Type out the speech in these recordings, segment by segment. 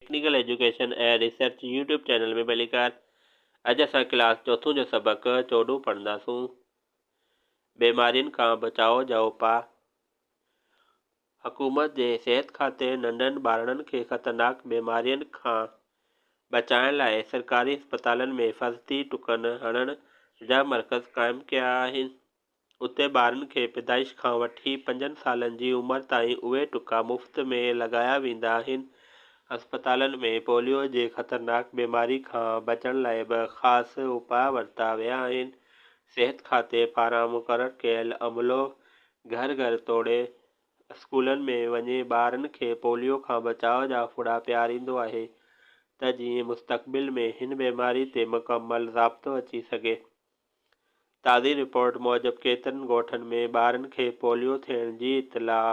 Technical education ۽ research YouTube channel ۾ ڀلي ڪر. اڄ اسان ڪلاس چوٿون جو سبق چوڏهون پڙهنداسون. بيمارين کان بچاء جا اپاء. حڪومت جي صحت کاتي ننڍن ٻارڙن کي خطرناڪ بيمارين کان بچائڻ لاء سرڪاري اسپتالن ۾ حفاظتي ٽڪن هڻڻ جا مرڪز قائم ڪيا آهن. اتي ٻارن کي پيدائش کان وٺي پنجن سالن جي عمر تائين اهي ٽڪا مفت ۾ لڳايا ويندا آهن. اسپتالن ۾ پوليو جي خطرناڪ بيماري کان بچڻ لاء به خاص اپاء ورتا ويا آهن. صحت کاتي پاران مقرر ڪيل عملو گهر گهر توڙي اسڪولن ۾ وڃي ٻارن کي پوليو کان بچاء جا ڦڙا پياريندو آهي ته جيئن مستقبل ۾ هن بيماري تي مڪمل ضابطو اچي سگهي. تازي رپورٽ موجب ڪيترن ڳوٺن ۾ ٻارن کي پوليو ٿيڻ جي اطلاع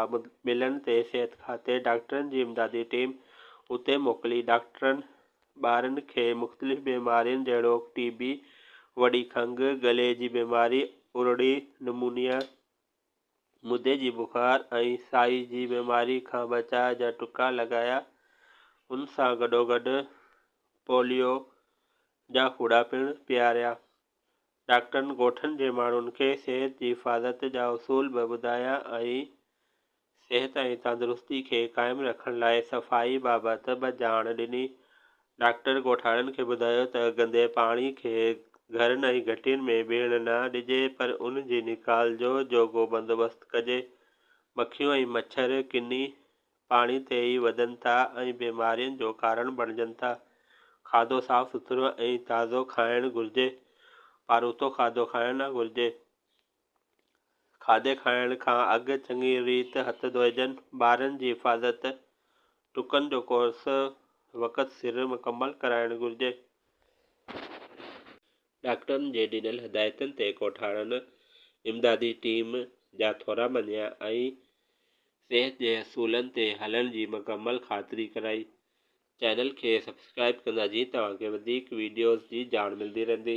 ملڻ تي صحت کاتي ڊاڪٽرن جي امدادي ٽيم اتي موڪلي ڊاڪٽرن ٻارن کي مختلف بيمارين جهڙوڪ ٽي بي، وڏي کنگهه، گلي جي بيماري، ارڙي، نمونيا، مدي جي بخار ۽ سائي جي بيماري کان بچاء جا ٽڪا لڳايا. ان سان گڏوگڏ پوليو جا ڦوڙا پڻ پياريا. ڊاڪٽرن ڳوٺن جي ماڻهن کي صحت جي حفاظت جا اصول به ٻڌايا ۽ صحت ۽ تندرستي کي قائم رکڻ لاء صفائي بابت به ڄاڻ ڏني. ڊاڪٽر ڳوٺاڻن کي ٻڌايو ته گندي پاڻي کي گهرن ۽ گهٽين ۾ بيهڻ نه ڏجي پر ان جي نيڪال جو جوڳو بندوبست ڪجي. مکيون ۽ مڇر ڪني پاڻي تي ئي وڌن ٿا ۽ بيمارين جو ڪارڻ بڻجن ٿا. کاڌو صاف سٿرو ۽ تازو کائڻ گهرجي. پاروٿو کاڌو کائڻ نه گهرجي. کاڌي کائڻ کان اڳ چڱي ريت هٿ ڌوئجن. ٻارن جي حفاظت، ٽڪن جو ڪورس وقت سر مڪمل ڪرائڻ گهرجي. ڊاڪٽرن جي ڏنل هدايتن تي ڳوٺاڻن، امدادي ٽيم جا ٿورا مڃيا ۽ صحت جي اصولن تي هلڻ جي مڪمل خاطري ڪرائي. چينل کي سبسڪرائيب ڪندا جيئن توهان کي وڌيڪ وڊيوز جي ڄاڻ ملندي رهندي.